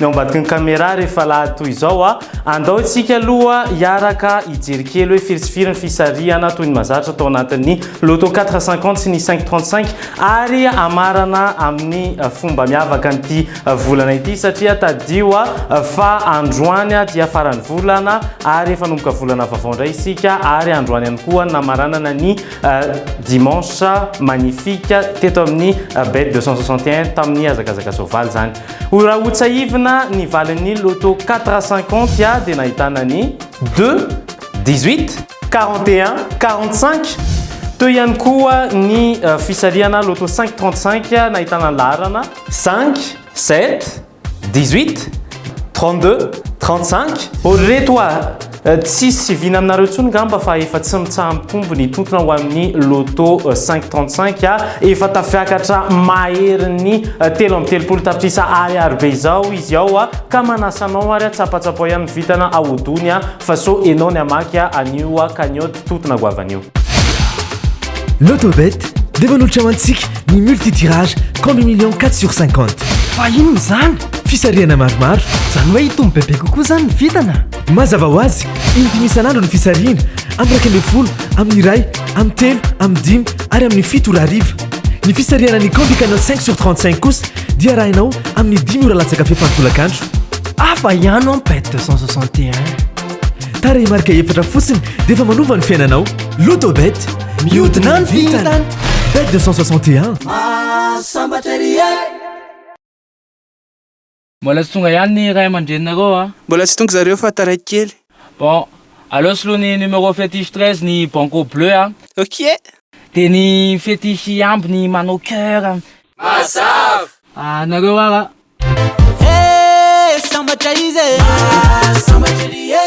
ny ao ambadiky ny caméra rehefa lahady toy izao a! andao isika aloha hiaraka hijery kely hoe firy sy firy ny fisarihana toy ny mazatra tao anatin'ny Lotto 450 sy ny 535 ary hamarana amin'ny fomba miavaka an'ity volana ity satria tadidio a! fa androany dia faran'ny volana ary efa hanomboka volana vaovao indray isika ary androany ihany koa no namaranana ny dimanche magnifique teto amin'ny bet 261 tamin'ny hazakazaka soavaly izany Hoy Rahotsahivina ny valin'ny loto quatre à cinquante a dia nahitana ny deux, dix-huit, quarante et un, quarante-cinq teo ihany koa ny fisarihana loto cinq trente-cinq nahitana ny laharana, cinq, sept, dix-huit, trente-deux, trente-cinq. Ô ry reto a! Tsisy vina aminareo tsony ngamba fa efa tsy mitsaha mitombo ny tontona ho amin'ny loto cinq trente cinq a! Efa tafiakatra maherin'ny telo amby telopolo tapitrisa ariary be izao izy ao a! Ka manasa anao ary a, tsapatsapao ihany ny vintana ahodony a! Fa so enao ny hamaky a, anio a, cagnotte tontona goavana io. Lotobet dia manolotra ho antsika ny multi-tirage combi millions quatre sur cinquante. Fa inona izany? Fisarihana maromaro. Izany hoe hitombo bebe kokoa izany ny vintana? Mazava ho azy, indimy isan'andro ny fisarihina, amin'ny iraika ambin'ny folo, amin'ny iray, amin'ny telo, amin'ny dimy ary amin'ny fito ora hariva. Ny fisarihana ny Candy Canal 5 sur 35 kosa dia arahinao amin'ny dimy ora latsaka fepany tolakandro. Hafa ihany ao Pet 261. Tarehimarika efatra fotsiny dia efa manova ny fiainanao. Lotobet, mihodina ny vintana. Bet 261. Mahasambatra ery e! Mbola tsy tonga ihany ny ray aman-dreninareo a! Mbola tsy tonga zareo fa taraiky kely. Bon, aleo soloy ny numéro fétiche treize ny banco bleu a! Ok! Dia ny fétiche hihambo ny manao cœur a! Mazava! Anareo ara! Hey! Sambatra izy e! Maha sambatra ery e!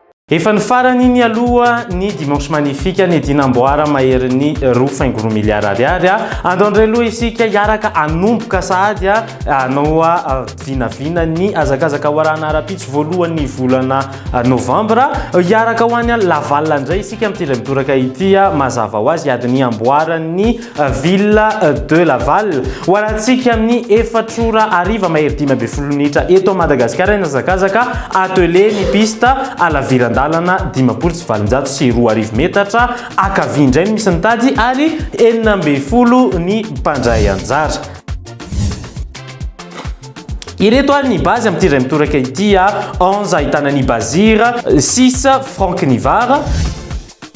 Efa ny farany iny aloha ny Dimanche Magnifique nidina amboara maherin'ny roa faingo roa miliara ariary. Andao indray aloha isika hiaraka hanomboka sahady hanao vinavina ny hazakazaka warahana ara-pitsy voalohan'ny volana Novambra. Hiaraka ho any Laval indray isika amin'ity iray mitoraka ity mazava ho azy adin'ny amboaran'ny Ville de Laval. Ho alantsika amin'ny efatra ora hariva mahery dimy ambin'ny folo minitra eto Madagasikara ny hazakazaka atelier ny piste à laviran-dalana dimampolo sy valonjato sy roa arivo metatra ankavia indray no misy ny tady ary enina ambin'ny folo ny mpandray anjara. Ireto ary ny base amin'ity iray mitoraka ity a, onze ahitana ny Bazir, six Franck Nivar,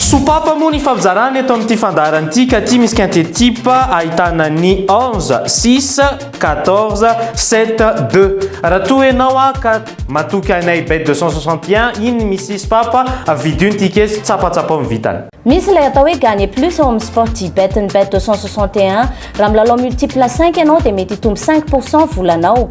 Sopapa moa ny ifampizarana eto amin'ity fandaharana ity ka aty misy quintet type ahitana ny onze, six, quatorze, sept, deux. Raha toa ianao aho ka matoky anay bet deux cent soixante et un iny misy sopapa vidio ny tickets tsapatsapao ny vintana. Misy ilay atao hoe gagner plus ao amin'ny sportybet-n'ny bet deux cent soixante et un. Raha milalao multiple cinq ianao dia mety hitombo cinq pour cent volanao.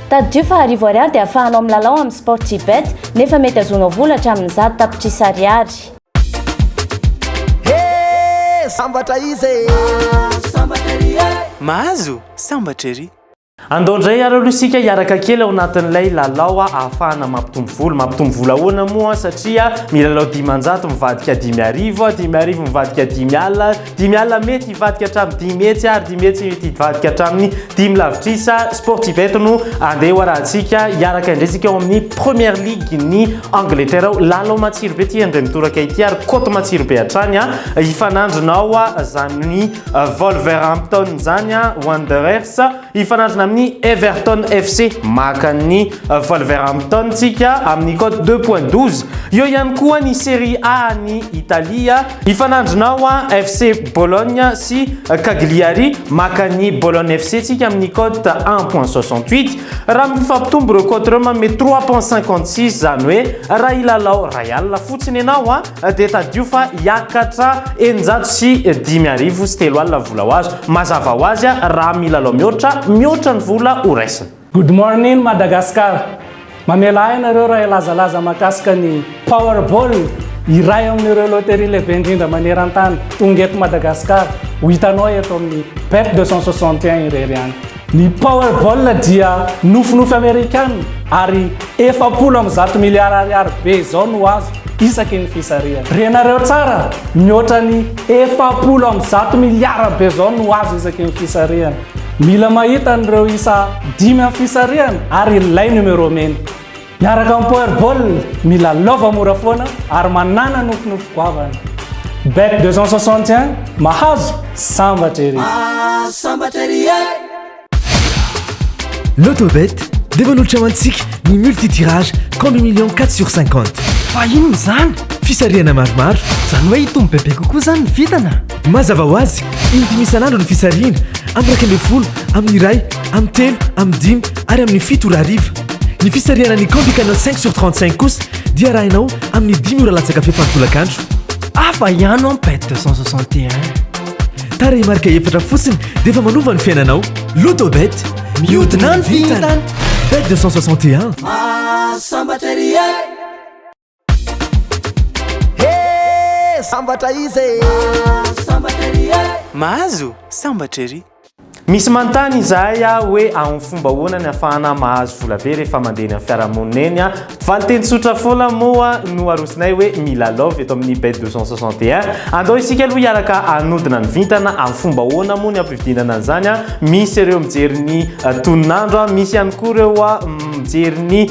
Tadidio fa arivo ariary dia afahanao milalao amin'ny Sportybet, nefa mety azonao vola hatramin'ny zato tapitrisa ariary. Hee! Sambatra iza e! Sambatra ery e! Mahazo? Sambatra ery! Andao indray ary aloha isika hiaraka kely ao anatin'ilay lalao ahafahana mampitombo vola. Mampitombo vola ahoana moa? Satria milalao dimanjato mivadika dimy arivo, dimy arivo mivadika dimy alina, Dimy alina mety hivadika hatramin'ny dimy hetsy ary dimy hetsy mety hivadika hatramin'ny dimy lavitrisa. Sportibet no andeha ho arahantsika hiaraka indrisika ao amin'ny Première Ligue ny Angleterre ao. Lalao matsiro be ity indray mitoraka ity ary cote matsiro be hatrany a. Hifanandrina ao izany Wolverhampton izany a, Wanderers. Hifanandrina amin'ny Everton FC maka an'i Wolverhampton tsika amin'ny cote deux point douze. Eo ihany koa ny Serie A any Italia. Hifanandrina ao FC Bologne sy Cagliari maka an'i Bologne FC tsika amin'ny cote un point soixante huit. Raha mifampitombo ireo cote ireo manome trois point cinquante six izany hoe raha hilalao iray alina fotsiny ianao. dia tadidio fa hiakatra eninjato sy dimy arivo sy telo alina ny vola ho azo. Mazava ho azy raha milalao mihoatra, mihoatra ny vola ho raisina. Good morning Madagascar! Mamela ahy ianareo raha hilazalaza mahakasika ny Powerball, iray amin'ireo loterie lehibe indrindra maneran-tany, tonga eto Madagascar, ho hitanao eto amin'ny Bet 261 irery ihany. Ny Powerball dia nofinofy Amerikana ary efapolo amby zato miliara ariary be izao no azo isaky ny fisarihana. Renareo tsara, mihoatra ny efapolo amby zato miliara be izao no azo isaky ny fisarihana. Mila mahita an'ireo isa dimy amin'ny fisarihana ary ilay numéro mena. Miaraka amin'ny Power Ball, milalaova mora foana ary manàna nofinofy goavana. Bet 261, mahazo, sambatra ery! Mahazo, sambatra ery e! Lotobet dia manolotra ho antsika ny multi-tirage Combi Millions 4 sur 50. Fa inona izany? Fisarihana maromaro. Izany hoe hitombo bebe kokoa izany ny vintana? Mazava ho azy, indimy isan'andro ny fisarihina, amin'ny iraika ambin'ny folo, amin'ny iray, amin'ny telo, amin'ny dimy ary amin'ny fito ora hariva. Ny fisarihana ny Candy Canal 5 sur 35 kosa dia arahinao amin'ny dimy ora latsaka fefy an-tolakandro. Hafa ihany ao Pet 261. Tarehimarika efatra fotsiny dia efa manova ny fiainanao. Lotobet, mihodina ny vintana! Bet 261. Mahasambatra ery e! Hee sambatra izy e! Mahazo sambatra ery e! Mahazo sambatra ery! Misy manontany izahay aho hoe aum fomba ahoana ny afahana mahazo vola be rehefa mandeha eny amin'ny fiarahamonina eny a? Valinteny tsotra foana moa no arosonay hoe mila love eto amin'ny bet 261. Andao isika aloha hiaraka hanodina ny vintana aum fomba ahoana moa ny ampividinana an'izany a? Misy ireo mijery ny tonon'andro a, misy ihany koa ireo mijery ny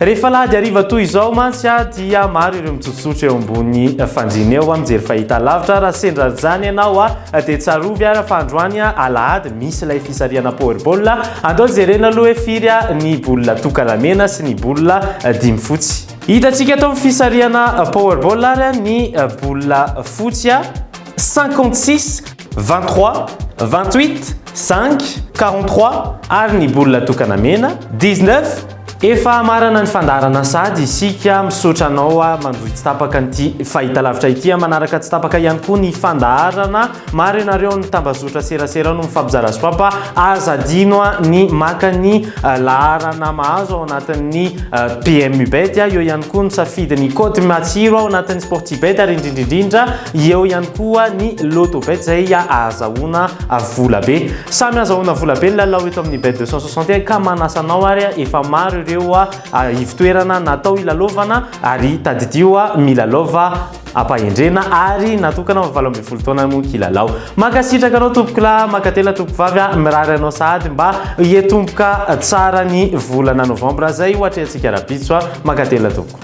Rehefa alahady hariva toy izao mantsy dia maro ireo mitsotsotra eo ambony fandriana eo, mijery fahitalavitra. Raha sendra izany ianao dia tsarovy ary fa androany alahady misy ilay fisarihana Powerball. Andao jerena aloha hoe firy ny bola tokana mena sy ny bola dimy fotsy. Hitantsika eto amin'ny fisarihana Powerball ary ny bola fotsy, cinquante six, vingt trois, vingt huit, cinq, quarante trois ary ny bola tokana mena, dix neuf. Efa hamarana ny fandaharana sady isika misaotra anao a manohy tsy tapaka an'ity fahitalavitra ity a manaraka tsy tapaka ihany koa ny fandaharana maro ianareo ny tambazotra serasera no mifampizara sy papa aza adino a ny maka ny laharana mahazo ao anatin'ny PMU bet a eo ihany koa ny safidy ny code matsiro ao anatin'ny sporty bet ary indrindra indrindra Eo ihany koa ny Lotto Bet izay ahazahoana vola be. Samy azahoana vola be ny lalao eto amin'ny Bet 261 ka manasa anao ary efa maro ireo ivo-toerana natao hilalaovana ary tadidio milalaova am-pahendrena ary natokana ho valo ambin'ny folo taona moa kilalao. Mankasitraka anao tompokolahy, mankatelina tompokovavy, mirary anao sahady mba hiatomboka tsara ny volana novambra izay ho atrehantsika rahampitso. Mankatelina tompoko.